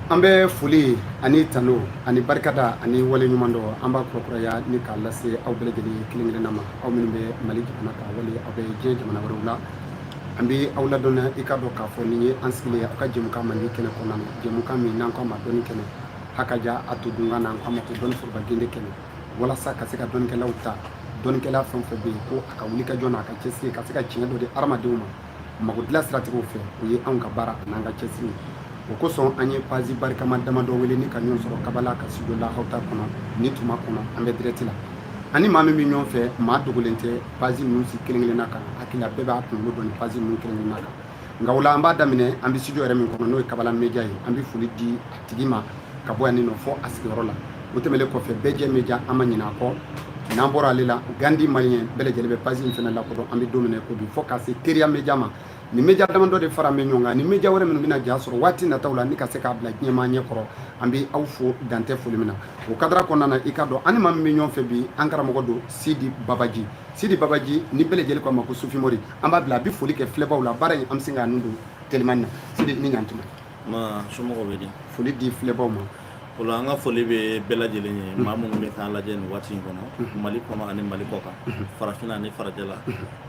an bɛ foli ani tanu ani barikada ani waleɲumandɔn an b'a kurakuraya ni k'a lase aw bɛɛ lajɛlen kelen kelenna ma aw minnu bɛ mali jamana kan wali aw bɛ diɲɛ jamana wɛrɛw la an bɛ aw ladɔnniya i k'a dɔn k'a fɔ nin ye an sigilen ye aw ka jɛmukan mandi kɛnɛ kɔnɔna na jɛmukan min n'an k'a ma dɔnni kɛnɛ hakaja a to dunkan na an k'a ma ko dɔnni foroba gende kɛnɛ walasa ka se ka dɔnnikɛlaw ta dɔnnikɛla fɛn o fɛn bɛ yen ko a ka wuli ka jɔ n'a ka cɛsiri ka se ka tiɲɛ dɔ di hadamadenw ma mago dilan siratigɛw fɛ o ye anw ka baara an'an ka cɛsiri o kosɔn an ye pazi barikama damadɔ wele ni ka ɲɔgɔn sɔrɔ kabala ka studio lahawta kɔnɔ nin tuma kɔnɔ an bɛ dirɛkiti la an ni maa min bɛ ɲɔgɔn fɛ maa dogolen tɛ pazi ninnu si kelen kelenna kan hakili la bɛɛ b'a kunkolo dɔn ni pazi ninnu kelen kelenna kan nka o la an b'a daminɛ an bɛ studio yɛrɛ min kɔnɔ n'o ye kabala media ye an bɛ foli di a tigi ma ka bɔ yan nin nɔ fo a sigiyɔrɔ la o tɛmɛlen kɔfɛ bɛɛjɛ media an ma ɲinɛ a kɔ n'an bɔra ale la gandhi malien bɛɛ lajɛlen bɛ pazi in fana lakodɔn an bɛ don min na i ko bi fo ka se teriya media ma nin media damadɔ de faralen bɛ ɲɔgɔn kan ni media wɛrɛ minnu bɛna ja sɔrɔ waati nataw la ni ka se k'a bila diɲɛmaa ɲɛ kɔrɔ an bɛ aw fo dan tɛ foli min na o kadara kɔnɔna na i k'a dɔn an ni maa min bɛ ɲɔgɔn fɛ bi an karamɔgɔ don sidi babaji sidi babaji ni bɛɛ lajɛlen ko a ma ko sufi mori an b'a bila a bɛ foli kɛ filɛbaaw la baara in an bɛ se k'a nun don telimani na sidi ni ɲantuma Ma somɔgɔw bɛ di? Foli di filɛbaaw ma. O la an ka foli bɛ bɛɛ lajɛlen ye maa minnu bɛ k'an lajɛ nin waati in kɔnɔ Mali kɔnɔ ani Mali kɔkan farafinna ani farajɛla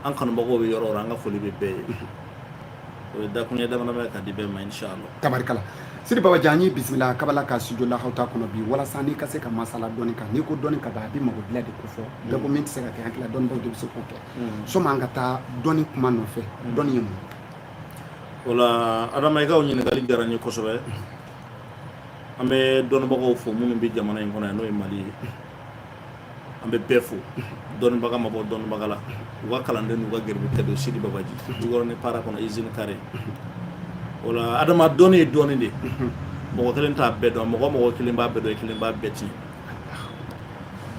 an kanubagaw bɛ yɔrɔ o yɔrɔ an ka foli bɛ bɛɛ ye o ye dakuruɲɛ damadama ye ka di bɛɛ ma inshallah tabarikala Sidi Babaji an y'i bisimila kabala ka studio lahawta kɔnɔ bi walasa n'i ka se ka masala dɔnni kan n'i ko dɔnnikɛbaa a bɛ mago dilan de kofɔ bɛɛ ko min tɛ se ka kɛ an hakili la dɔnnibaaw de bɛ se k'o kɛ sanni an ka taa dɔnni kuma nɔfɛ dɔnni ye mun ye o la adama i ka o ɲininkali diyara n ye kosɛbɛ an bɛ dɔnnibagaw fo minnu bɛ jamana in kɔnɔ yan n'o ye mali ye an bɛ bɛɛ fo dɔnnibaga ma bɔ dɔnnibaga la u ka kalanden n'u ka garibu de don sidi babaji jikɔrɔni para kɔnɔ izini kare o la adama dɔnni ye dɔnni de mɔgɔ kelen t'a bɛɛ dɔn mɔgɔ o mɔgɔ kelen b'a bɛɛ dɔn kelen b'a bɛɛ tiɲɛ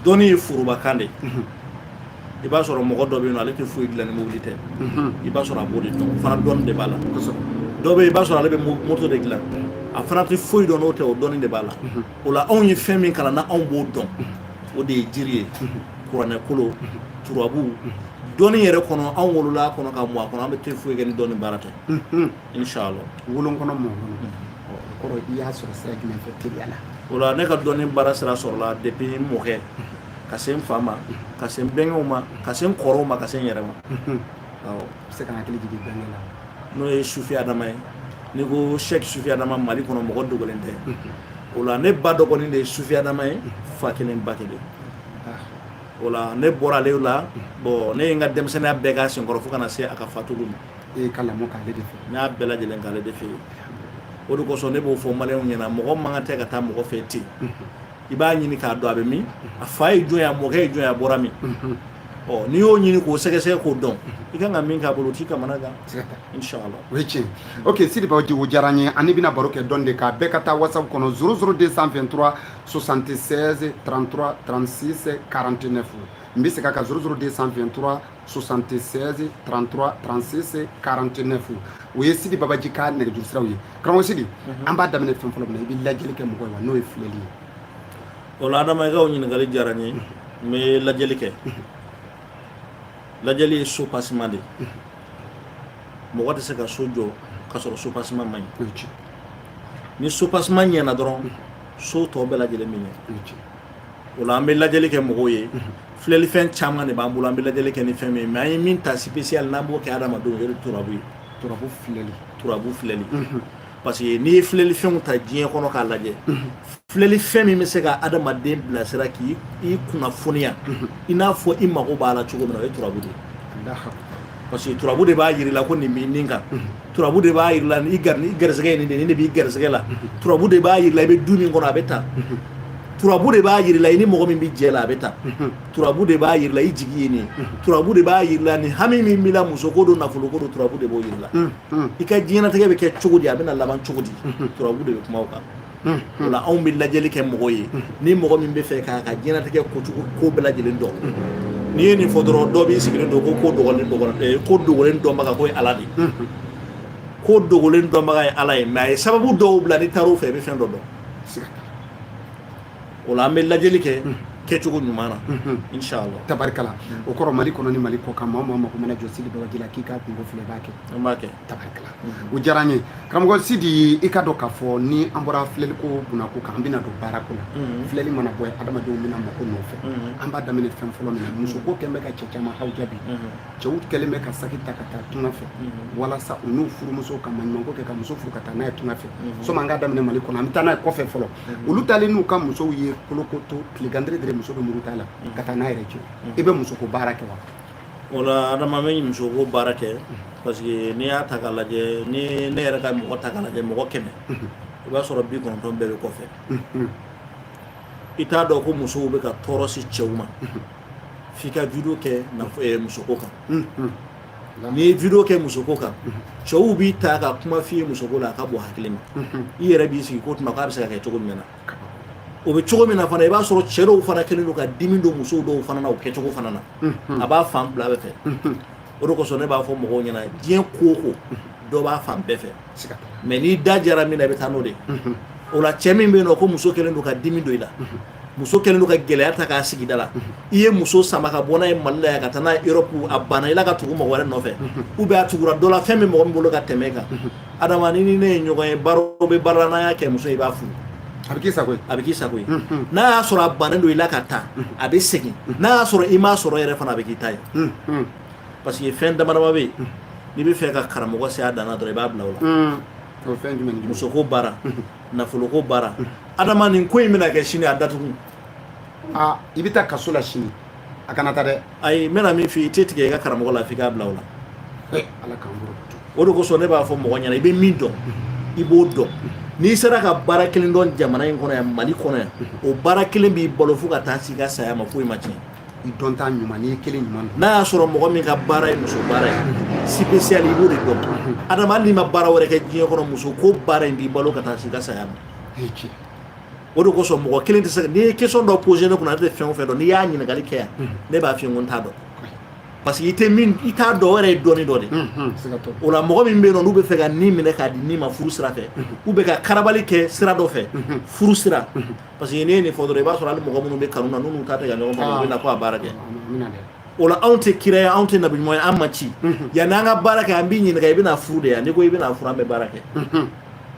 dɔnni ye forobakan de i b'a sɔrɔ mɔgɔ dɔ bɛ yen ale tɛ foyi dilan ni mobili tɛ i b'a sɔrɔ a b'o de dɔn o fana dɔnni de b'a la dɔ bɛ i b'a sɔrɔ ale bɛ moto de dilan a fana tɛ foyi dɔn n'o tɛ o dɔnni de b'a la o la anw ye fɛn min kalan na anw b'o dɔn o de ye jiri ye kuranɛ kolon turabu dɔnni yɛrɛ kɔnɔ anw wolola a kɔnɔ ka mɔ a kɔnɔ an bɛɛ tɛ foyi kɛ ni dɔnni baara tɛ inshallah wolo a kɔnɔ mɔ a kɔnɔ i y'a sɔrɔ sira jumɛn fɛ teliya la o la ne ka dɔnni baara sira sɔrɔla depuis n mɔkɛ ka se n fa ma ka se n bɛnkɛw ma ka se n kɔrɔw ma ka se n yɛrɛ ma awɔ bɛ se ka hakili jigin bɛnkɛ la n'o ye sufi adama ye n'i ko sɛki sufi adama mali kɔnɔ mɔgɔ dogolen tɛ o la ne ba dɔgɔnin de ye sufi adama ye fa kelen ba kelen ah. o la ne bɔra ale la bɔn ne ye n ka denmisɛnninya bɛɛ k'a senkɔrɔ fo ka na se a ka fatuli ma ne ye n ka lamɔ k'ale de fɛ n y'a bɛɛ lajɛlen k'ale de fɛ yen o de kosɔn ne b'o fɔ maliyɛnw ɲɛna mɔgɔ man kan tɛ ka taa mɔgɔ fɛ ten i b'a ɲini k'a dɔn a bɛ min a fa ye jɔn a mɔkɛ ye jɔn a bɔra min ɔ n'i y'o ɲini k'o sɛgɛsɛgɛ k'o dɔn i kan ka min k'a bolo t'i kamanagan inshallah o ye tiɲɛ ok sidi babaji o diyara n ye ani bɛna baro kɛ dɔn de kan bɛɛ ka taa whatsapp kɔnɔ 00 223 76 33 36 49 n bɛ segin a kan 00 223 76 33 36 49 o ye sidi babaji ka nɛgɛjuru siraw ye karamɔgɔ sidi mhm. an b'a daminɛ fɛn fɔlɔ min na i bɛ lajɛli kɛ mɔgɔ ye wa n'o ye filɛli ye o la adama i ka o ɲininkali diyara n ye mhm. n bɛ lajɛli kɛ mhm. lajɛli ye soubassement de ye mɔgɔ tɛ se ka so jɔ ka sɔrɔ soubassement ma ɲɛ ni soubassement ɲɛna dɔrɔn so tɔ bɛɛ lajɛlen bɛ ɲɛ o la an bɛ lajɛli kɛ mɔgɔw ye filɛlifɛn caman de b'an bolo an bɛ lajɛli kɛ ni fɛn min ye mais an ye min ta spécial n'an b'o kɛ adamadenw o ye turabu ye turabu filɛli turabu filɛli parce que n'i ye filɛlifɛnw ta diɲɛ kɔnɔ k'a lajɛ filɛlifɛn min bɛ se ka adamaden bilasira k'i kunnafoniya i n'a fɔ i mago b'a la cogo min na o ye turabu de ye parce que turabu de b'a jira i la ko nin b'i nin kan turabu de b'a jira i la ni garisɛgɛ ye nin de nin de b'i garisɛgɛ la turabu de b'a jira i la i bɛ du min kɔnɔ a bɛ tan turabu de b'a jira i la i ni mɔgɔ min bɛ jɛ la a bɛ tan turabu de b'a jira i la i jigi ye nin ye turabu de b'a jira i la ni hami min b'i la musoko don nafoloko don turabu de b'o jira i la i ka diɲɛnatigɛ bɛ kɛ cogo di a bɛna laban cogo di turabu de bɛ kuma o kan o la anw bɛ lajɛli kɛ mɔgɔ ye ni mɔgɔ min b'a fɛ k'a ka diɲɛnatigɛ kojugu ko bɛɛ lajɛlen dɔn n'i ye nin fɔ dɔrɔn dɔ b'i sigilen don ko ko dogolen ko dogolen dɔnbaga k'o ye ala de ye ko dogolen dɔnbaga ye ala ye mais a ye sababu dɔw bila n'i taar'u fɛ i bɛ fɛn dɔ dɔn o la an bɛ lajɛli kɛ kɛcogo ɲuman na inshallah tabarikala o kɔrɔ mali kɔnɔ ni mali kɔkan maa maa mako mana jɔ sidi babaji la k'i ka kunko filɛ b'a kɛ b'a kɛ tabarikala o diyara n ye karamɔgɔ sidi i k'a dɔn k'a fɔ ni an bɔra filɛli ko kunna ko kan an bɛna don baara ko la filɛli mana bɔ adamadenw bɛ na mako nɔfɛ an b'a daminɛ fɛn fɔlɔ min na musoko kɛlen bɛ ka cɛ caman haw jaabi cɛw kɛlen bɛ ka saki ta ka taa tunga fɛ walasa u n'u furumuso ka maɲumanko kɛ ka muso furu ka taa n'a ye tunga fɛ sɔmi an ka daminɛ mali kɔnɔ an bɛ taa n'a ye kɔfɛ fɔlɔ olu taalen n'u ka musow ye kolokoto tilegandere dere muso bɛ murut'a la ka taa n'a yɛrɛ ye i bɛ musoko baara kɛ wa O la adama n bɛ musoko baara kɛ parce que n'i y'a ta k'a lajɛ ni ne yɛrɛ ka mɔgɔ ta k'a lajɛ mɔgɔ kɛmɛ i b'a sɔrɔ bi kɔnɔntɔn bɛɛ bɛ kɔfɛ i t'a dɔn ko musow bɛ ka tɔɔrɔ se cɛw ma f'i ka vidéo kɛ musoko kan n'i ye vidéo kɛ musoko kan cɛw b'i ta ka kuma f'i ye musoko la a ka bɔ hakili ma i yɛrɛ b'i sigi ko tuma k'a bɛ se ka kɛ cogo min na o bɛ cogo min na fana i b'a sɔrɔ cɛ dɔw fana kɛlen don ka dimi don musow dɔw fana na o kɛcogo fana na a b'a fan fila bɛɛ fɛ o de kosɔn ne b'a fɔ mɔgɔw ɲɛna diɲɛ ko o ko dɔ b'a fan bɛɛ fɛ mɛ n'i da diyara min na i bɛ taa n'o de o la cɛ min bɛ yen nɔ ko muso kɛlen don ka dimi don i la muso kɛlen don ka gɛlɛya ta k'a sigi i da la i ye muso sama ka bɔ n'a ye mali la yan ka taa n'a ye Europe a banna i la ka tugu mɔgɔ wɛrɛ nɔfɛ ou bien a tugura dɔ la fɛn bɛ mɔgɔ min bolo ka tɛmɛ i kan adama n'i ni ne ye ɲɔgɔn ye baara b'a la n'an y'a kɛ muso in i b'a furu a bɛ k'i sago ye a bɛ k'i sago ye n'a y'a sɔrɔ a bannen don i la ka taa a bɛ segin n'a y'a sɔrɔ i m'a sɔrɔ yɛrɛ fana a bɛ k'i ta ye parce que fɛn dama dama bɛ yen n'i b'a fɛ ka karamɔgɔ se a dan na dɔrɔn i b'a bila o la musoko baara nafoloko baara adama nin ko in bɛna kɛ sini a datugu aa i bɛ taa kaso la sini a kana taa dɛ ayi n bɛna min f'i ye i tɛ tigɛ i ka karamɔgɔ la f'i k'a bila o la ala k'an bolo o de kosɔn ne b'a fɔ mɔgɔ ɲɛna i bɛ min dɔn i b'o dɔn n'i sera ka baara kelen dɔn jamana in kɔnɔ yan mali kɔnɔ yan o baara kelen b'i balo fo ka taa s'i ka saya ma foyi ma tiɲɛ i dɔn t'a ɲuman n'i ye kelen ɲuman dɔn n'a y'a sɔrɔ mɔgɔ min ka baara ye muso baara ye spécial i b'o de dɔn adama hali n'i ma baara wɛrɛ kɛ diɲɛ kɔnɔ muso ko baara in b'i balo ka taa s'i ka saya ma o de kosɔn mɔgɔ kelen tɛ se n'i ye question dɔ poser ne kunna n tɛ fɛn o fɛn dɔn n'i y'a ɲininkali kɛ yan ne b'a f'i ye ko n t'a dɔn parce que i tɛ min i t'a dɔn yɛrɛ ye dɔnni dɔ de o la mɔgɔ min bɛ yen n'u b'a fɛ ka nin minɛ k'a di nin ma furu sira fɛ u bɛ ka karabali kɛ sira dɔ fɛ furu sira parce que ne ye nin fɔ dɔrɔn i b'a sɔrɔ mɔgɔ minnu bɛ kanu na n'u ta ɲɔgɔn bɛ na ko a baara kɛ o la anw tɛ kira ye anw tɛ nabi ɲuman ye an ma ci yanni an ka baara kɛ an b'i ɲininka i bɛna furu de yan n'i ko i bɛna furu an bɛ baara kɛ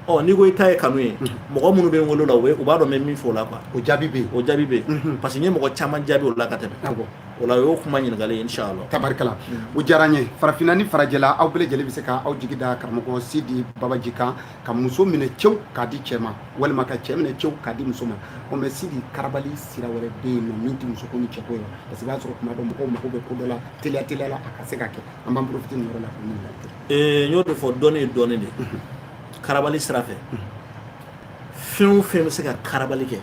ɔ n'i ko i ta ye kanu ye mɔgɔ minnu bɛ n wele la u b'a dɔn n bɛ min fɔ o la quoi o jaabi bɛ o jaabi bɛ parce que n ye mɔgɔ caman jaabi o la ka tɛmɛ o la o y'o kuma ɲininkali ye inshallah tabarikala o diyara n ye farafinna ni farajɛla aw bɛɛ lajɛlen bɛ se ka aw jigi da karamɔgɔ Sidi Babaji kan ka muso minɛ cɛwu k'a di cɛ ma walima ka cɛ minɛ cɛwu k'a di muso ma o mɛ sidi karabali sira wɛrɛ bɛ yen nɔ min tɛ muso ko ni cɛko ye parce que i b'a sɔrɔ tuma dɔ mɔgɔw mago bɛ ko dɔ la teliya teliya la a ka se ka kɛ an b'an profiter nin yɔrɔ la k'o ɲininkali kɛ. ee n y'o de fɔ dɔnni ye dɔnni de ye karabali sira fɛ fɛn o fɛn bɛ se ka karabali kɛ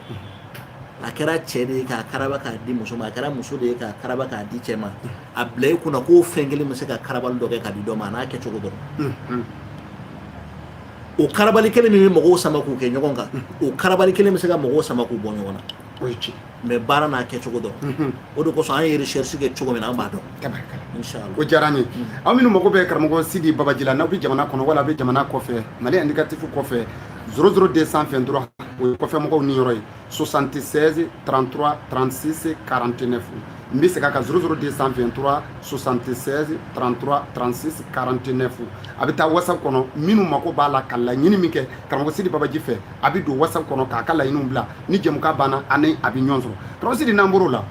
a kɛra cɛ de ye k'a karaba k'a di muso ma a kɛra muso de ye k'a karaba k'a di cɛ ma. a bila i kunna ko fɛn kelen bɛ se ka karabali dɔ kɛ k'a di dɔ ma a n'a kɛcogo don o karabali kelen min bɛ mɔgɔw sama k'u kɛ ɲɔgɔn kan o karabali kelen bɛ se ka mɔgɔw sama k'u bɔ ɲɔgɔn na mais baara n'a kɛcogo don o de kosɔn an ye recherche kɛ cogo min na an b'a dɔn o diyara n ye aw minnu mago bɛ karamɔgɔ sidi babaji la n'aw bɛ jamana kɔnɔ wala a bɛ jamana kɔfɛ mali indicatif kɔfɛ 00 223 o ye kɔfɛmɔgɔw niyɔrɔ ye 76 33 36 49 n bɛ segin a kan 00 223 76 33 36 49 a bɛ taa whatsapp kɔnɔ minnu mako b'a la ka laɲini min kɛ karamɔgɔ sidi babaji fɛ a bɛ don whatsapp kɔnɔ k'a ka laɲiniw bila ni jɛmukan banna ani a bɛ ɲɔgɔn sɔrɔ karamɔgɔ sidi n'an bɔr'o la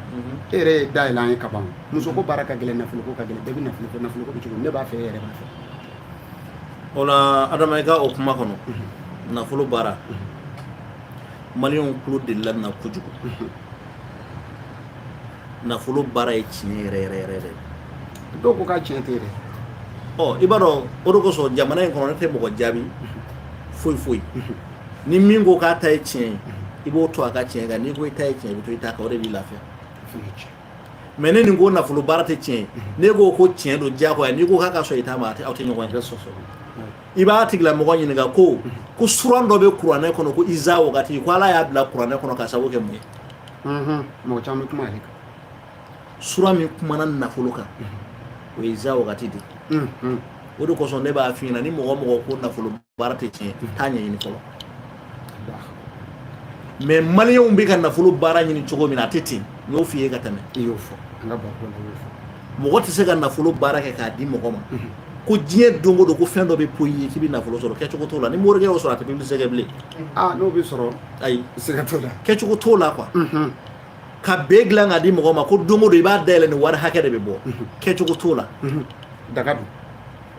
e yɛrɛ y'a dayɛlɛ an ye ka ban musoko baara ka gɛlɛn nafoloko ka gɛlɛn bɛɛ bɛ nafolo fɛ nafolo ko bɛ cogo ne b'a fɛ e yɛrɛ b'a fɛ o la adama i ka o kuma kɔnɔ nafolo baara Mali tulo de la kojugu nafolo baara ye tiɲɛ yɛrɛ yɛrɛ yɛrɛ dɛ dɔw ko ka tiɲɛ tɛ dɛ ɔ i b'a dɔn o de kosɔn jamana in kɔnɔ ne tɛ mɔgɔ jaabi foyi foyi ni min ko k'a ta ye tiɲɛ ye i b'o to a ka tiɲɛ kan n'i ko i ta ye tiɲɛ i bɛ to i ta kan o de b'i lafiya mais ni nin ko nafolo baara tɛ tiɲɛ ye ne ko ko tiɲɛ don diyagoya n'i ko k'a ka sɔn i ta ma aw tɛ ɲɔgɔn ye sɔsɔ i b'a tigilamɔgɔ ɲininka ko ko suran dɔ bɛ kuranɛ kɔnɔ ko iza wagati ko ala y'a bila kuranɛ kɔnɔ k'a sababu kɛ mun ye mɔgɔ caman bɛ kuma ale kan sura min kumana nafolo kan o ye iza wagati de o de kosɔn ne b'a f'i ɲɛna ni mɔgɔ o mɔgɔ ko nafolo baara tɛ tiɲɛ taa ɲɛɲini fɔlɔ mais maliyɛnw bɛ ka nafolo baara ɲini cogo min na a tɛ ten n y'o f'i ye ka tɛmɛ i y'o fɔ an ka baro kɔnɔ i y'o fɔ mɔgɔ tɛ se ka nafolo baara kɛ k'a di mɔgɔ ma ko diɲɛ don o don ko fɛn dɔ bɛ poyi i ye k'i bɛ nafolo sɔrɔ kɛcogo t'o la ni morikɛ y'o sɔrɔ a tɛ publicité kɛ bilen aa n'o bɛ sɔrɔ ayi sɛgɛn t'o la kɛcogo t'o la quoi ka bee dilan k'a di mɔgɔ ma ko don o don i b'a dayɛlɛ nin wari hakɛ de bɛ bɔ kɛcogo t'o la daga don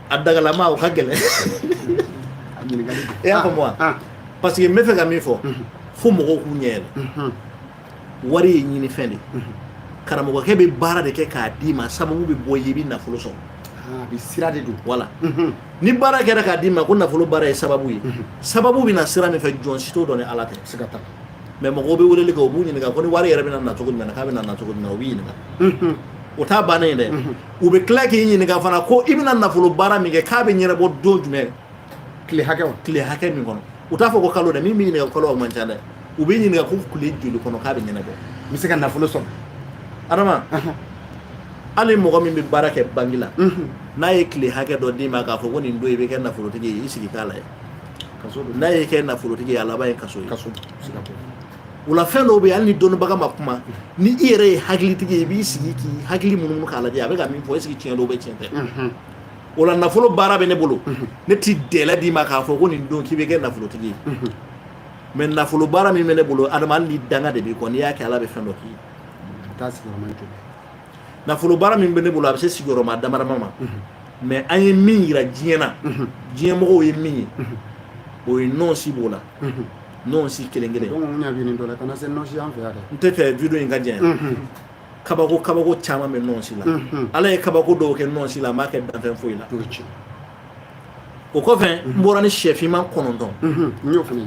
a dagalama o ka gɛlɛn e y'a faamu wa parce que n bɛ fɛ ka min fɔ fo mɔgɔw k'u ɲɛ yɛlɛ wari ye ɲinifɛn de karamɔgɔkɛ bɛ baara de kɛ k'a d'i ma sababu bɛ bɔ yen i bɛ nafolo sɔrɔ a bɛ sira de don voilà ni baara kɛra k'a d'i ma ko nafolo baara ye sababu ye sababu bɛ na sira min fɛ jɔn si t'o dɔn ni ala tɛ se ka taa mais mɔgɔw bɛ weleli kɛ u b'u ɲininka ko nin wari yɛrɛ bɛ na na cogo jumɛn k'a bɛ na na cogo jumɛn u b'i ɲininka o t'a ban ye dɛ u bɛ tila k'i ɲininka fana ko i bɛna nafolo baara min kɛ k'a bɛ ɲɛnabɔ don jumɛn tile hakɛ tile hakɛ min kɔnɔ u t'a fɔ ko kalo dɛ min b'i ɲininka ko kalo o man ca dɛ u b'i ɲininka ko tile joli kɔnɔ k'a bɛ ɲɛnabɔ n bɛ se ka nafolo sɔrɔ adama hali mɔgɔ min bɛ baara kɛ banki la n'a ye tile hakɛ dɔ d'i ma k'a fɔ ko nin don i bɛ kɛ nafolotigi ye i sigi k'a lajɛ n'a y'i kɛ nafolotigi ye a laban ye kaso ye o la fɛn dɔw bɛ hali ni dɔnnibaga ma kuma ni i yɛrɛ ye hakilitigi ye i b'i sigi k'i hakili munumunu k'a lajɛ a bɛ ka min fɔ est-ce que tiɲɛ don wa tiɲɛ tɛ wala nafolo baara bɛ ne bolo ne tɛ délai d'i ma k'a fɔ ko nin don k'i bɛ kɛ nafolotigi ye mais nafolo baara min bɛ ne bolo adama ni danga de b'i kɔ n'i y'a kɛ ala bɛ fɛn dɔ k'i ye nafolo baara min bɛ ne bolo a bɛ se sigiyɔrɔma damadama ma mais an ye min jira diɲɛ na diɲɛmɔgɔw ye min ye o ye nɔnsi b'o la nɔnsi kelen kelen n t'a fɛ vidéo in ka jɛ kabako kabako caman bɛ nɔnsi la ala ye kabako dɔw kɛ nɔnsi la a m'a kɛ danfɛn foyi la o kɔfɛ n bɔra ni sɛfinman kɔnɔntɔn n y'o fana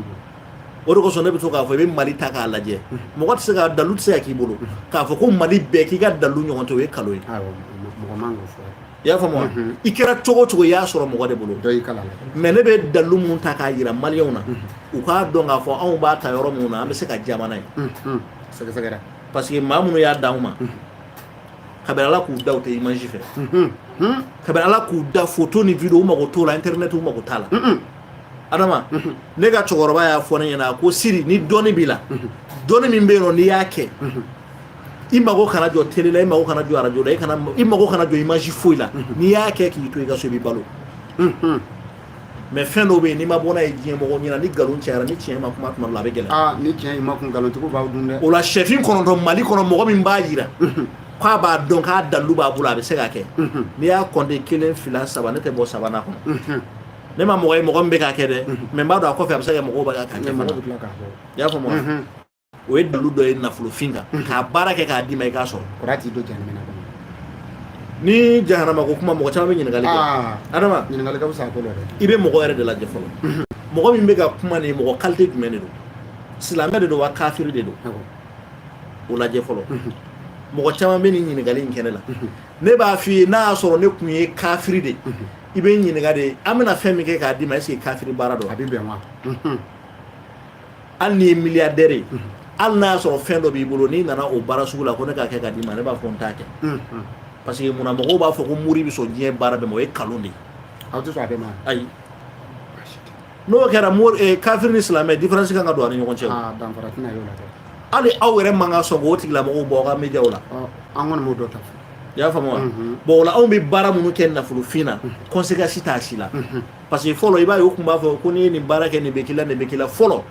o de kosɔn ne bɛ to k'a fɔ i bɛ mali ta k'a lajɛ mɔgɔ tɛ se ka dalu tɛ se ka k'i bolo k'a fɔ ko mali bɛɛ k'i ka dalu ɲɔgɔn tɛ o ye nkalon ye i y'a faamu i kɛra cogo cogo i y'a sɔrɔ mɔgɔ de bolo mais ne bɛ dalu min ta k'a jira maliw na u k'a dɔn k'a fɔ anw b'a ta yɔrɔ min na an bɛ se ka jamana ye sɛgɛsɛgɛra parce que maa minnu y'a di anw ma kabini ala k'u da u tɛ image fɛ kabini ala k'u da photo ni vidéo u mako t'o la internet u mako t'a la adama ne ka cɛkɔrɔba y'a fɔ ne ɲɛna ko siri ni dɔnni b'i la dɔnni min bɛ yen n'i y'a kɛ i mago kana jɔ télé la i mago kana jɔ radio la i kana i mago kana jɔ image foyi la mhm. n'i y'a kɛ k'i to i ka so i bɛ balo mhm. mais fɛn dɔw bɛ yen n'i ma bɔ n'a ye diɲɛ mɔgɔ ɲɛna ni nkalon cayara ni tiɲɛ ma kuma tuma dɔ la a bɛ gɛlɛya ah, ni tiɲɛ ma kuma nkalontigiw b'aw dun dɛ o la sɛfin kɔnɔntɔn mali kɔnɔ mɔgɔ min b'a jira mhm. k'a b'a dɔn k'a dalilu b'a bolo a bɛ se ka kɛ n'i y'a kɔnte kelen fila saba ne tɛ bɔ sabanan kɔnɔ ne ma mɔgɔ ye mɔgɔ min bɛ k'a kɛ dɛ mais n b'a dɔn a kɔfɛ a bɛ se ka kɛ mɔgɔw bɛ ka kɛ fana i y'a faamu wa o ye dalu dɔ ye nafolofin kan mhm. k'a baara kɛ k'a d'i ma i k'a sɔrɔ kɔrɔ t'i don jahanama kɔnɔ ni jahanama ko kuma mɔgɔ caman bɛ ɲininkali kɛ ah. adama ɲininkali ka fisa a ko la dɛ i bɛ mɔgɔ yɛrɛ de lajɛ fɔlɔ mhm. mɔgɔ min bɛ ka kuma nin mɔgɔ qualité jumɛn de don silamɛ de don wa kafiri de don o lajɛ fɔlɔ mhm. mɔgɔ caman bɛ nin ɲininkali in kɛ ne la ne b'a f'i ye n'a y'a sɔrɔ ne tun ye kafiri de i bɛ ɲininka de an bɛna fɛn min kɛ k'a d'i ma est-ce que kafiri baara don a bɛ bɛn wa Hali n'i ye milliardaire ye unhun hali n'a y'a sɔrɔ fɛn dɔ b'i bolo n'i nana o baara sugu la ko ne k'a kɛ k'a d'i ma ne b'a fɔ n t'a kɛ unhun parce que munna mɔgɔw b'a fɔ ko mori bɛ sɔn diɲɛ baara bɛɛ ma o ye nkalon de ye aw tɛ sɔn a bɛɛ ma ayi n'o kɛra mori eh, kafiri ni silamɛ différence kan ka don a ni ɲɔgɔn cɛ aa ah, danfara tɛna y'o la dɛ hali aw yɛrɛ man ka sɔn k'o tigilamɔgɔw bɔ aw ka médiaw la ɔ an kɔni m'o dɔ ta fɔ i y'a faamu wa bon o la anw bɛ baara minnu kɛ nafolofin na conséquence t'a si la parce que fɔlɔ i b'a ye u tun b'a fɔ ko n'i ye nin baara kɛ nin bɛ k'i la nin bɛ k'i la fɔlɔ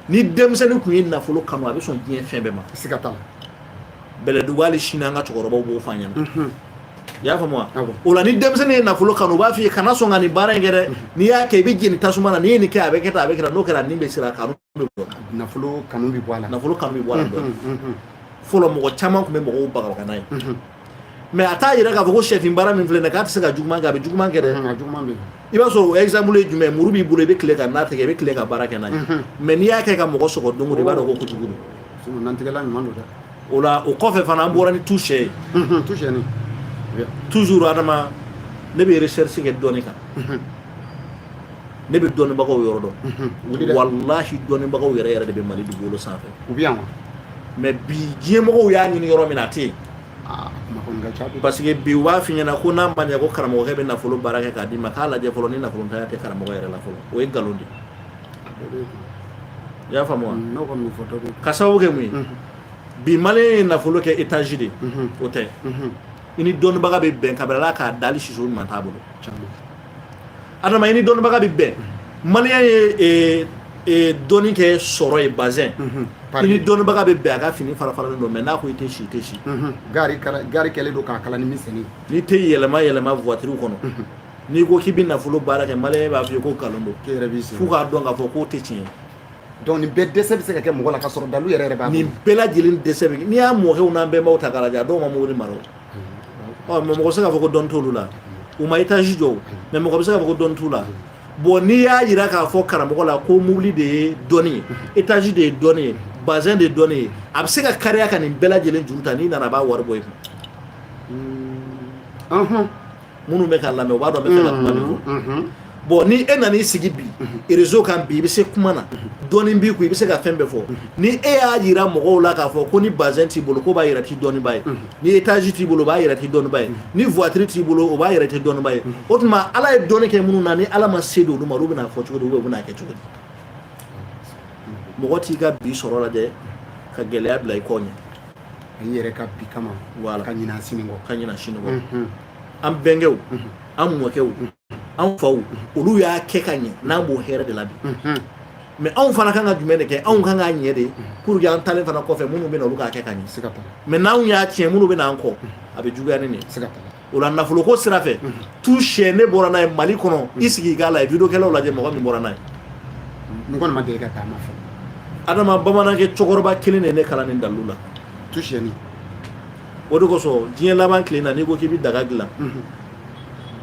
ni denmisɛnnin tun ye nafolo kanu a bɛ sɔn diɲɛ fɛn bɛɛ ma siga t'a la bɛlɛdugu hali sini an ka cɛkɔrɔbaw b'o fɔ an ɲɛna i y'a faamu wa o la ni denmisɛnnin ye nafolo kanu u b'a f'i ye kana sɔn ka nin baara in kɛ dɛ n'i y'a kɛ i bɛ jeni tasuma na n'i ye nin kɛ a bɛ kɛ tan a bɛ kɛ tan n'o kɛra nin bɛ siran a kanu nafolo kanu bɛ bɔ a la nafolo kanu bɛ bɔ a la dɔɔni fɔlɔ mɔgɔ caman tun bɛ mɔgɔw bagabaga n'a ye mɛ a t'a yira k'a fɔ ko sɛfin baara min filɛ nin ye k'a tɛ se ka juguman kɛ a bɛ juguman kɛ dɛ i b'a sɔrɔ o exemple ye jumɛn muru b'i bolo i bɛ tile ka nan tigɛ i bɛ tile ka baara kɛ n'a ye mɛ n'i y'a kɛ ka mɔgɔ sɔgɔ don o don i b'a dɔn ko kojugu don nantigɛla ɲuman don dɛ o la o kɔfɛ fana an bɔra ni tu sɛ ye tu sɛni toujours adama ne bɛ recherche kɛ dɔnni kan ne bɛ dɔnnibagaw yɔrɔ dɔn mhm. walahi dɔnnibagaw yɛrɛ yɛrɛ de bɛ mali dugukolo sanfɛ u bɛ yan wa mɛ bi diɲɛmɔgɔw y'a ɲini yɔrɔ min a tɛ yen ah, parce que bi u b'a f'i ɲɛna ko n'a ma ɲɛ ko karamɔgɔkɛ bɛ nafolo baara kɛ k'a d'i ma k'a lajɛ fɔlɔ ni nafolotanya tɛ karamɔgɔ yɛrɛ la fɔlɔ o ye nkalon de i y'a faamu wa mm, ka sababu kɛ mun ye mhm. bi maliyɛn ye nafolo kɛ etazi de mhm. o tɛ i ni dɔnnibaga bɛ bɛn kabila la k'a dali siso ɲuman t'a bolo adama i ni dɔnnibaga bɛ bɛn maliyɛn ye e, dɔnni kɛ sɔrɔ ye bazɛn mhm. i ni dɔnnibaga bɛ bɛn a ka fini farafaralen don mɛ n'a ko i tɛ si i tɛ si mhm. gari gari kɛlen don k'a kala ni miseli n'i tɛ yɛlɛma yɛlɛma voitiriw kɔnɔ mhm. n'i ko k'i bɛ nafolo baara kɛ maliyɛn b'a f'i ye ko nkalon don f'u k'a dɔn k'a fɔ k'o tɛ tiɲɛ ye donc nin bɛɛ dɛsɛ bɛ se ka kɛ mɔgɔ la ka sɔrɔ dalu yɛrɛ yɛrɛ b'a nin bɛɛ lajɛlen dɛsɛ bɛ n'i y'an mɔkɛw n'an bɛnbaw ta k'a lajɛ a dɔw ma mobili mara ɔ mɛ mɔgɔ bɛ se k'a fɔ ko dɔn t'olu la u ma étage jɔ mɛ mɔgɔ bɛ se k'a fɔ ko dɔn t'u la bon n'i y'a jira k'a fɔ karamɔgɔ la ko mobili de ye dɔnni ye étage de ye dɔnni ye bazin de ye dɔnni ye a bɛ se ka kaliya ka nin bɛɛ lajɛlen juru ta n'i nana a b'a wari bɔ i kun minnu bɛ k'a lamɛn u b'a dɔn n b'a fɛ ka kuma min fɔ bon ni e nan'i sigi bi rezo kan bi i bɛ se kuma na dɔɔnin b'i kun i bɛ se ka fɛn bɛɛ fɔ ni e y'a jira mɔgɔw la k'a fɔ ko ni bazɛn t'i bolo k'o b'a yira i tɛ dɔnniba ye ni etazi t'i bolo o b'a yira i tɛ dɔnniba ye ni vuwatiri t'i bolo o b'a yira i tɛ dɔnniba ye o tuma ala ye dɔnni kɛ minnu na ni ala ma se don olu ma olu bɛna fɔ cogo di u bɛna kɛ cogo di mɔgɔ t'i ka bi sɔrɔ lajɛ ka gɛlɛya bila i kɔ ɲɛ an yɛrɛ ka bi kama wala ka ɲinɛ a sini kɔ ka ɲinɛ a sini kɔ an bɛnkɛw an mɔkɛw an faw olu y'a kɛ ka ɲɛ n'an b'o hɛrɛ de la bi mɛ anw fana kan ka jumɛn de kɛ anw kan k'a ɲɛ de pour que an taalen fana kɔfɛ minnu bɛ na olu k'a kɛ ka ɲɛ mɛ n'anw y'a tiɲɛ minnu bɛ n'an kɔ a bɛ juguya ni nin o la nafoloko sira fɛ tu sɛ ne bɔra n'a ye mali kɔnɔ i sigi k'a lajɛ vidéo kɛlaw lajɛ mɔgɔ min bɔra n'a ye n kɔni ma deli ka taama fɔ adama bamanankɛ cɛkɔrɔba kelen de ne kalan nin dalu la tu sɛni o de kosɔn diɲɛ laban tile na n'i ko k'i bɛ daga dilan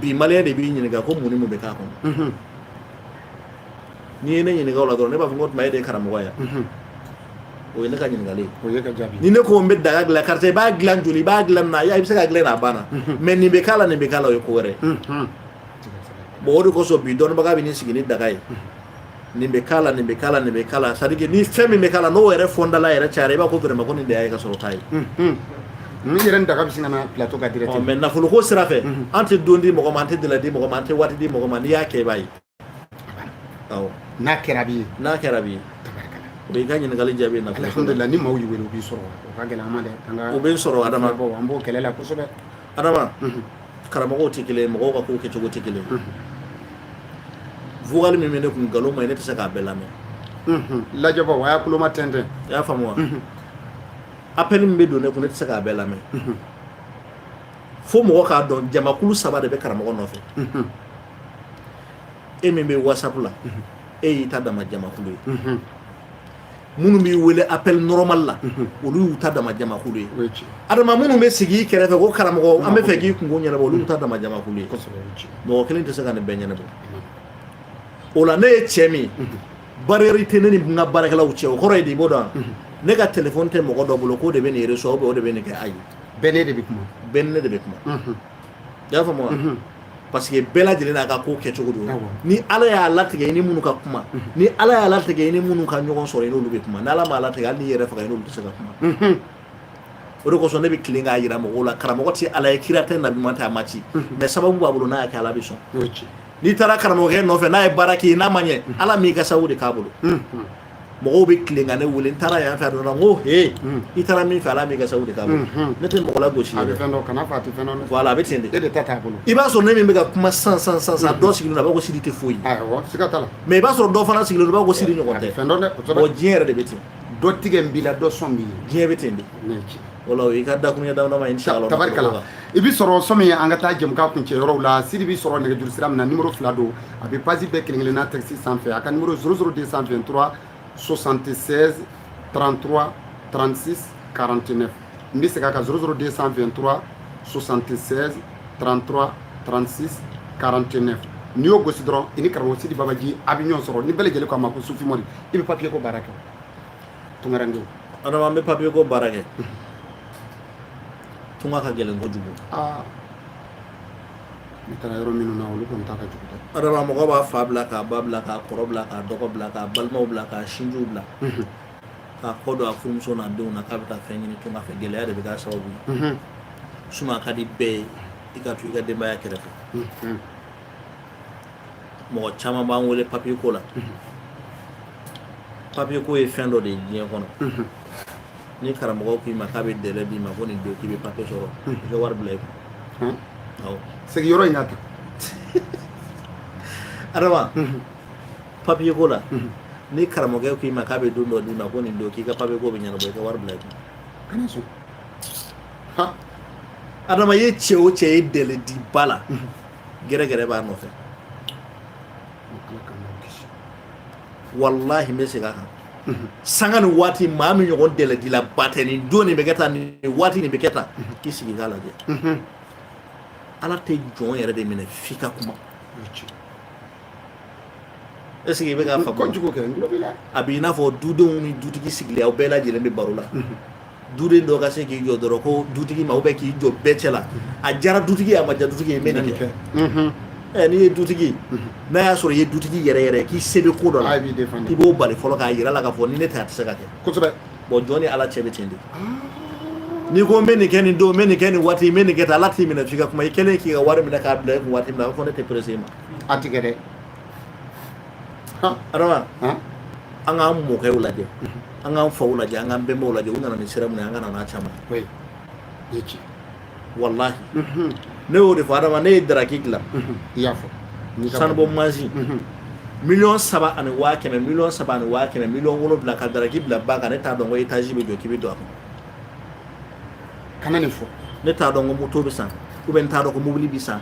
bi maliyɛn de b'i ɲininka ko mun ni mun bɛ k'a kɔnɔ n'i ye ne ɲininka o la dɔrɔn ne b'a fɔ k'o tuma e de ye karamɔgɔ ye o ye ne ka ɲininkali ni ne ko n bɛ daga dilan karisa i b'a dilan joli i b'a dilan na i bɛ se k'a dilan n'a banna mais nin bɛ k'a la nin bɛ k'a la o ye ko wɛrɛ bon o de kosɔn bi dɔnnibaga bɛ nin sigi ni daga ye nin bɛ k'a la nin bɛ k'a la nin bɛ k'a la c'est à dire ni fɛn min bɛ k'a la n'o yɛrɛ fɔndala yɛrɛ cayara i b'a ko vraiment ko nin de y'a ye ka sɔrɔ t'a ye n yɛrɛ daga bɛ sin ka na plateau ka direct mais nafoloko sira fɛ an tɛ don di mɔgɔ ma an tɛ dala di mɔgɔ ma an tɛ waati di mɔgɔ ma n'i y'a kɛ i b'a ye n'a kɛra bi n'a kɛra bi o b'i ka ɲininkali jaabi na alhamdulillah ni maaw y'i wele u b'i sɔrɔ o ka gɛlɛn an ma dɛ an ka o bɛ sɔrɔ adama an b'o kɛlɛ la kosɛbɛ adama karamɔgɔw tɛ kelen mɔgɔw ka kow kɛcogo tɛ kelen vocal min bɛ ne kun nkalon man ɲi ne tɛ se k'a bɛɛ lamɛn lajɛbɔ a y'a kuloma tɛntɛn i y'a faamu wa appel min bɛ don ne kun ne tɛ se k'a bɛɛ lamɛn fo mɔgɔ k'a dɔn jamakulu saba de bɛ karamɔgɔ nɔfɛ e min bɛ whatsapp la e y'i ta dama jamakulu ye minnu b'i wele appel normal la olu y'u ta dama jamakulu ye adama minnu bɛ sigi i kɛrɛfɛ ko karamɔgɔ an b'a fɛ k'i kunko ɲɛnabɔ olu y'u ta dama jamakulu ye mɔgɔ kelen tɛ se ka nin bɛɛ ɲɛnabɔ o la ne ye cɛ min barrière tɛ ne ni n ka baarakɛlaw cɛ o kɔrɔ ye di i b'o dɔn ne ka telefɔni tɛ mɔgɔ dɔ bolo k'o de bɛ nin reçoit o de bɛ nin kɛ ayi bɛɛ ne de bɛ kuma bɛɛ ne de bɛ kuma Y'a faamuya parce que bɛɛ lajɛlen n'a ka ko kɛcogo don ni ala y'a latigɛ ni minnu ka kuma ni ala y'a latigɛ ni minnu ka ɲɔgɔn sɔrɔ n'olu bɛ kuma ni ala b'a latigɛ hali n'i yɛrɛ faga n'olu tɛ se ka kuma o de kosɔn ne bɛ tilen k'a jira mɔgɔw la karamɔgɔ tɛ ala ye kira tɛ nabi tɛ a ma ci mais sababu b'a bolo n'a y'a kɛ ala bɛ sɔn n'i taara karamɔgɔkɛ nɔfɛ n'a ye baara k'i ye n'a ma ɲɛ ala m'i ka sababu de k'a bolo mɔgɔw bɛ tilen ka ne wele n taara yan fɛ dɔrɔn ko he hmm. i taara min fɛ ala m'i ka sabu de k'a bolo hmm, hmm. ne tɛ mɔgɔ lagosi a bɛ fɛn dɔn kana fɔ a tɛ fɛn dɔn voilà a bɛ ten de e de ta t'a bolo i b'a sɔrɔ ne min bɛ ka kuma sisan sisan dɔ sigilen don a b'a ko sidi tɛ foyi awɔ siga t'a la mais i b'a sɔrɔ dɔ fana sigilen don a b'a ko sidi ɲɔgɔn tɛ fɛn dɔ dɛ o diɲɛ yɛrɛ de bɛ ten dɔ tigɛlen b'i la dɔ sɔn b'i ye diɲɛ bɛ ten de Wala i ka da ye da in sa tari i bɛ sɔrɔ so min ye an ka taa jɛmu kuncɛ yɔrɔ la sidi bɛ sɔrɔ nɛgɛjuru sira min na numéro fila don a bɛ passer bɛɛ kelen kelenna tɛsi sanfɛ a ka numéro zéro zéro deux cent vingt-trois soixante-seize trente-trois trente-six quarante-neuf n bɛ segin a kan zéro zéro deux cent vingt-trois soixante-seize trente-trois trente-six quarante-neuf n'i y'o gosi dɔrɔn i ni karamɔgɔ sidi babaji a bɛ ɲɔgɔn sɔrɔ ni bɛɛ lajɛlen k'a mako sufi i bɛ papiye ko baara kɛ tungarankɛw adama an bɛ papiye ko baara kɛ tunga ka gɛlɛn kojugu ne taara yɔrɔ minnu na olu kɔni ta ka jugu dɛ adama mɔgɔ b'a fa bila k'a ba bila k'a kɔrɔ bila k'a dɔgɔ bila k'a balimaw bila k'a sinjiw bila k'a kɔ don a furumuso n'a denw na k'a bɛ taa fɛn ɲini tunga fɛ gɛlɛya de bɛ k'a sababu ye suma ka di bɛɛ ye i ka to i ka denbaya kɛrɛfɛ mɔgɔ caman b'an wele papier ko la papier ko ye fɛn dɔ de ye diɲɛ kɔnɔ ni karamɔgɔ k'i ma k'a bɛ dɛlɛ d'i ma ko nin don k'i bɛ papier sɔrɔ i ka wari bila i kun awɔ segin yɔrɔ in na tan adama papier ko la ni karamɔgɔ k'i ma k'a bɛ don dɔ d'i ma ko nin don k'i ka papier ko bɛ ɲɛnabɔ i ka wari bila i kun kana sɔn ha adama i ye cɛ o cɛ ye dɛlɛ di ba la gɛrɛgɛrɛ b'a nɔfɛ walahi n bɛ segin a kan sanga ni waati maa min ɲɔgɔn dɛlɛdila ba tɛ nin don nin bɛ kɛ tan nin waati nin bɛ kɛ tan k'i sigi k'a lajɛ ala tɛ jɔn yɛrɛ de minɛ f'i ka kuma Est ce que i bɛ k'a faamu, kojugu kɛ, n tulo b'i la, a b'i n'a fɔ dudenw ni dutigi sigilen aw bɛɛ lajɛlen bɛ baro la, unhun, duden dɔ ka se k'i jɔ dɔrɔn ko dutigi ma ou bien k'i jɔ bɛɛ cɛ la, a diyara dutigi ye a ma diya dutigi ye n bɛ nin kɛ, unhun, ɛ n'i ye dutigi ye n'a y'a sɔrɔ i ye dutigi yɛrɛ yɛrɛ k'i se bɛ ko dɔ la a b'i défendre i b'o bali fɔlɔ k'a jira a la k'a fɔ ni ne tɛ a tɛ se ka kɛ, kosɛbɛ, bon jɔn ni Ala cɛ bɛ ten de, n'i ko n bɛ nin kɛ nin don n bɛ nin kɛ nin waati n bɛ nin kɛ tan Ala t'i minɛ f'i ka kuma i kɛlen k'i ka wari minɛ k'a bila i kun waati min na a b'a fɔ ne tɛ pressé i ma A tigɛ dɛ an k'an mɔkɛ lajɛ an k'an fa lajɛ an k'an bɛnba lajɛ u nana ni sira min ye an ka caman ci wala ne y'o de fɔ adama ne ye daraki dilan i y'a fɔ sanubɔ masin miliyɔn saba ani waa kɛmɛ miliyɔn saba ani waa kɛmɛ miliyɔn wolonfila ka daraki bila ba kan ne t'a dɔn étage bɛ jɔ k'i bɛ don a kɔnɔ kana nin fɔ ne t'a dɔn ko moto bɛ san ou bien n t'a dɔn ko mobili bɛ san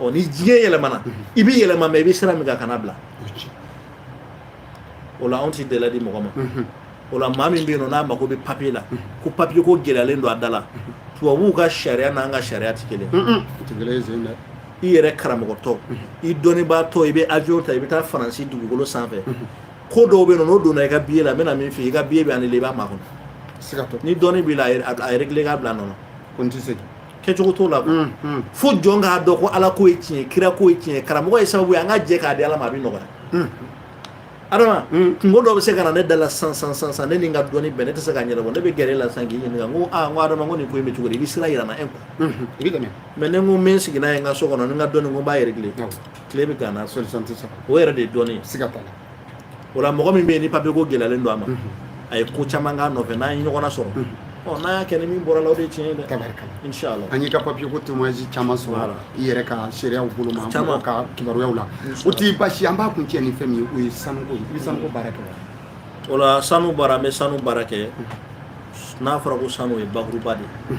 ɔ ni diɲɛ yɛlɛmana i bɛ yɛlɛma mais i bɛ sira min kan kana bila o la anw ti dɛlɛ di mɔgɔ ma o la maa min bɛ yen nɔ n'a mago bɛ papiye la ko papiye ko gɛlɛyalen don a da la tubabuw ka sariya n'an ka sariya tɛ kelen i yɛrɛ karamɔgɔtɔ i dɔnnibaatɔ i bɛ avion ta i bɛ taa faransi dugukolo sanfɛ ko dɔw bɛ yen nɔ n'o donna i ka biye la n bɛna min f'i ye i ka biye bɛ annuler i b'a makɔnɔ ni dɔnni b'i la a régler k'a bila a nɔ na ko n tɛ segin kɛcogo t'o la fo jɔn k'a dɔn ko ala ko ye tiɲɛ kira ko ye tiɲɛ karamɔgɔ ye sababu ye an ka jɛ k'a di ala ma a bɛ nɔgɔya adama kunko dɔ bɛ se ka na ne da la sisan sisan ne ni n ka dɔnni bɛɛ ne tɛ se k'a ɲɛnabɔ ne bɛ gɛrɛ i la sa k'i ɲininka ko aa ko adama ko nin ko in bɛ cogo di i bɛ sira yira n na e kun i bɛ tɛmɛ mais ne ko n bɛ n sigi yen n ka so kɔnɔ ni n ka dɔnni ko n b'a régler tile bɛ gan n na o yɛrɛ de ye dɔnni ye siga t'a la o la mɔgɔ min bɛ yen ni papier ko gɛlɛyalen don a ma a ye ko caman k'a nɔfɛ n'an ye ɲɔgɔn sɔrɔ ɔ n'a y'a kɛ ni min bɔra a la o de ye tiɲɛ ye dɛ tabarikala inshallah an y'i ka papier ko témoignage caman sɔrɔ Voilà. i yɛrɛ ka seereyaw bolo ma Caman. mɔgɔw ka kibaruyaw la o tɛ baasi an b'a kuncɛ ni fɛn min ye o ye sanuko ye i bɛ sanuko baara kɛ wa o la sanu baara an bɛ sanu baara kɛ n'a fɔra ko sanu o ye bakuruba de ye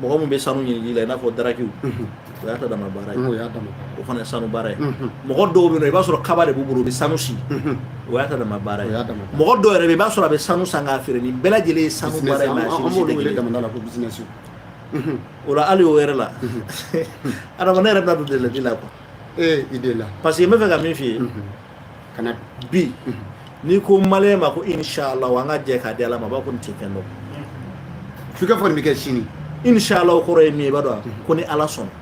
mɔgɔ min bɛ sanu ɲini la i n'a fɔ darakiw o y'a ta dama baara ye o y'a dama o fana ye sanu baara ye mɔgɔ dɔw bɛ yen i b'a sɔrɔ kaba de b'u bolo u bɛ sanu si o y'a ta dama baara ye mɔgɔ dɔw yɛrɛ bɛ i b'a sɔrɔ a bɛ sanu san k'a feere nin bɛɛ lajɛlen ye sanu baara ye mais a si tɛ kelen damanda la ko bisimilasi o la hali o yɛrɛ la adama ne yɛrɛ bɛna don deli la quoi ee i deli la parce que n b'a fɛ ka min f'i ye ka na bi n'i ko maliyɛn ma ko inshala an ka jɛ k'a di ala ma a b'a ko nin tɛ fɛn dɔ f'i ka fɔ nin bɛ kɛ sini inshala o kɔrɔ ye min ye i b'a dɔn ko ni ala sɔnna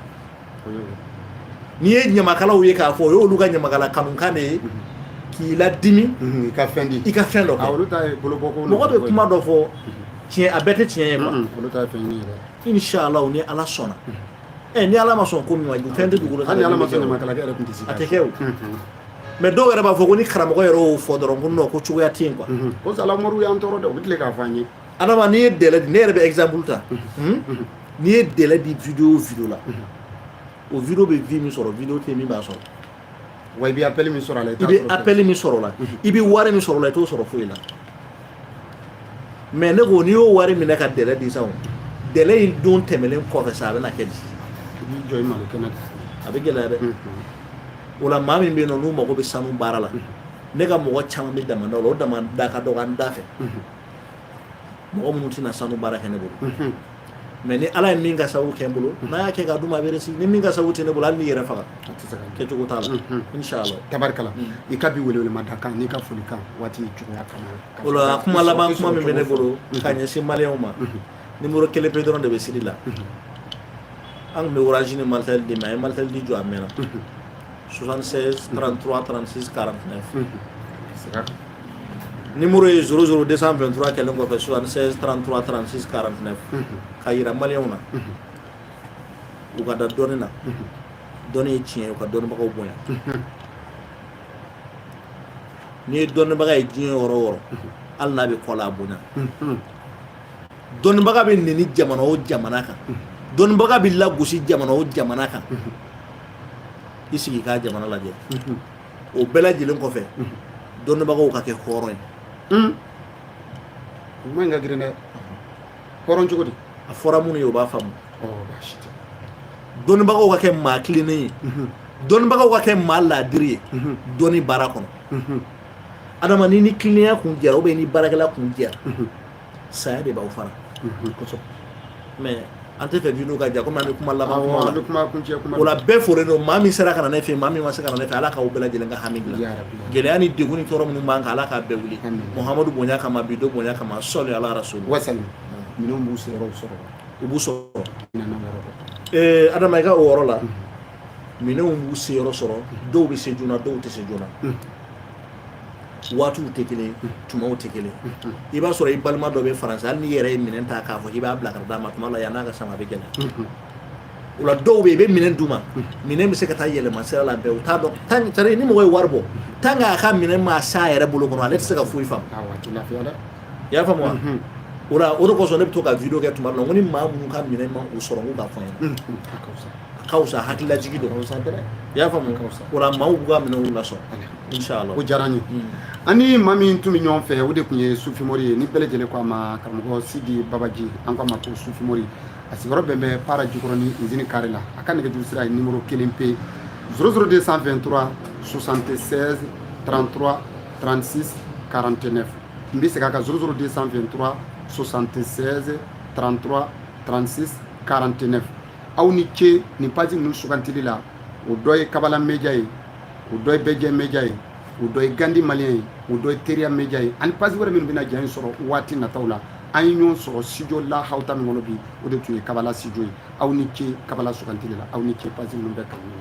n'i ye ɲamakalaw ye k'a fɔ o y'olu ka ɲamakala kanukan de ye k'i ladimi mhm, i ka fɛn di i ka fɛn dɔ kɛ mɔgɔ bɛ kuma dɔ fɔ tiɲɛ a bɛɛ tɛ tiɲɛ ye quoi inshala ni ala sɔnna mhm. ɛ ni ala ma sɔn ko min ma fɛn tɛ dugukolo hali ni ala ma fɛn ma kala yɛrɛ tun tɛ se a tɛ kɛ o mais dɔw yɛrɛ b'a fɔ ko ni karamɔgɔ yɛrɛ y'o fɔ dɔrɔn ko non ko cogoya tɛ yen quoi ko salamuru y'an tɔɔrɔ dɛ u bɛ tile k'a fɔ an ye adama n'i ye délai di ne yɛrɛ bɛ exemple ta n'i ye délai di video o video la o video bɛ vue min sɔrɔ video tɛ min b'a sɔrɔ wa i bɛ appel min sɔrɔ a la i bɛ appel min sɔrɔ la i bɛ wari min sɔrɔ la i t'o sɔrɔ foyi la mais ne ko n'i y'o wari minɛ ka délai di sa o délai in don tɛmɛnen kɔfɛ sa a bɛna kɛ di i b'i jɔ i malo kɛnɛ kan a bɛ gɛlɛya dɛ o la maa min bɛ yen nɔ n'u mago bɛ sanu baara la ne ka mɔgɔ caman bɛ damanda la o damanda ka dɔgɔ an da fɛ mɔgɔ minnu tɛna sanu baara kɛ ne bolo mais ni ala ye min ka sago kɛ n bolo n'a y'a kɛ ka dun a bɛ réussir ni min ka sago tɛ ne bolo hali n'i yɛrɛ faga kɛcogo t'a la tarikala i ka bi wele ma da kan n'i ka foli kan waati cogoya o la kuma laban kuma min bɛ ne bolo ka ɲɛsin maliyɛnw ma numéro kelen pe dɔrɔn de bɛ siri la an tun bɛ orange ni malitel di mais an ye malitel di jɔ a mɛnna 76 33 36 49 Numéro ye 00 223 kɛlen kɔfɛ 76 33 36 49 k'a jira maliyɛnw na u ka da dɔnni na dɔnni ye tiɲɛ ye u ka dɔnnibagaw bonya n'i ye dɔnnibaga ye diɲɛ yɔrɔ o yɔrɔ hali n'a bɛ kɔ la a bonya dɔnnibaga bɛ neni jamana o jamana kan dɔnnibaga bɛ lagosi jamana o jamana kan i sigi k'a jamana lajɛ o bɛɛ lajɛlen kɔfɛ dɔnnibagaw ka kɛ hɔrɔn ye hmm. kuma in ka girin dɛ hɔrɔn cogo di a fɔra minnu ye u b'a faamu dɔnnibagaw ka kɛ maa tilennen ye mhm. dɔnnibagaw ka kɛ maa laadiri ye mhm. dɔnni baara kɔnɔ mhm. adama ni ni tilennenya kun jɛra ou bien ni baarakɛla kun jɛra saya de b'aw fara mɛ an t'a fɛ video ka jan komi an bɛ kuma laban o la bɛɛ folen don maa min sera ka na ne fɛ maa min ma se ka na ne fɛ ala k'aw bɛɛ lajɛlen ka hami bila gɛlɛya ni degun ni tɔɔrɔ minnu b'an kan ala k'a bɛɛ wuli muhamadu bonya kama bi don bonya kama sɔli ala so wa minnu b'u sɔrɔ sɔrɔ u b'u sɔrɔ adama i ka o yɔrɔ la minɛnw b'u se yɔrɔ sɔrɔ dɔw bɛ se joona dɔw tɛ se joona waatiw tɛ kelen tumaw tɛ kelen i b'a sɔrɔ i balima dɔ bɛ faransi hali n'i yɛrɛ ye minɛn ta k'a fɔ k'i b'a bila ka d'a ma tuma la yann'a ka s'a ma bɛ gɛlɛya o la dɔw bɛ yen i bɛ minɛn d'u ma minɛn bɛ se ka taa yɛlɛma sira la bɛɛ u t'a dɔn tan tari ni mɔgɔ ye wari bɔ tan k'a ka minɛn ma s'a yɛrɛ bolo kɔnɔ ale tɛ se ka foyi faamu i y'a faamu wa o la o de kosɔn ne bɛ to ka video kɛ tuma dɔ la ko ni maa minnu ka minɛn ma u sɔrɔ k'u k'a fɔ n ye ka fisa hakililajigi don i y'a faamu o la maaw b'u ka minɛnw lasɔrɔ inshallah o diyara n ye an ni maa min tun bɛ ɲɔgɔn fɛ o de tun ye sufimori ye ni bɛɛ lajɛlen ko a ma karamɔgɔ sidi babaji an ko a ma ko sufimori a sigiyɔrɔ bɛn bɛ para jikɔrɔni izini kare la a ka nɛgɛjuru sira ye nimoro kelen pe 00223 76 33 36 49 n bɛ segin a kan 00223 76 33 36 49 aw ni ce nin pasi ninnu sugantili la o dɔ ye kabala meja ye o dɔ ye bɛjɛ meja ye o dɔ ye gandi maliyɛn ye o dɔ ye teriya meja ye ani pasi wɛrɛ minnu bɛna ja in sɔrɔ waati nataw la an ye ɲɔgɔn sɔrɔ sijo la hawuta min kɔnɔ bi o de tun ye kabala sijo ye aw ni ce kabala sugantili la aw ni ce pasi ninnu bɛɛ kanu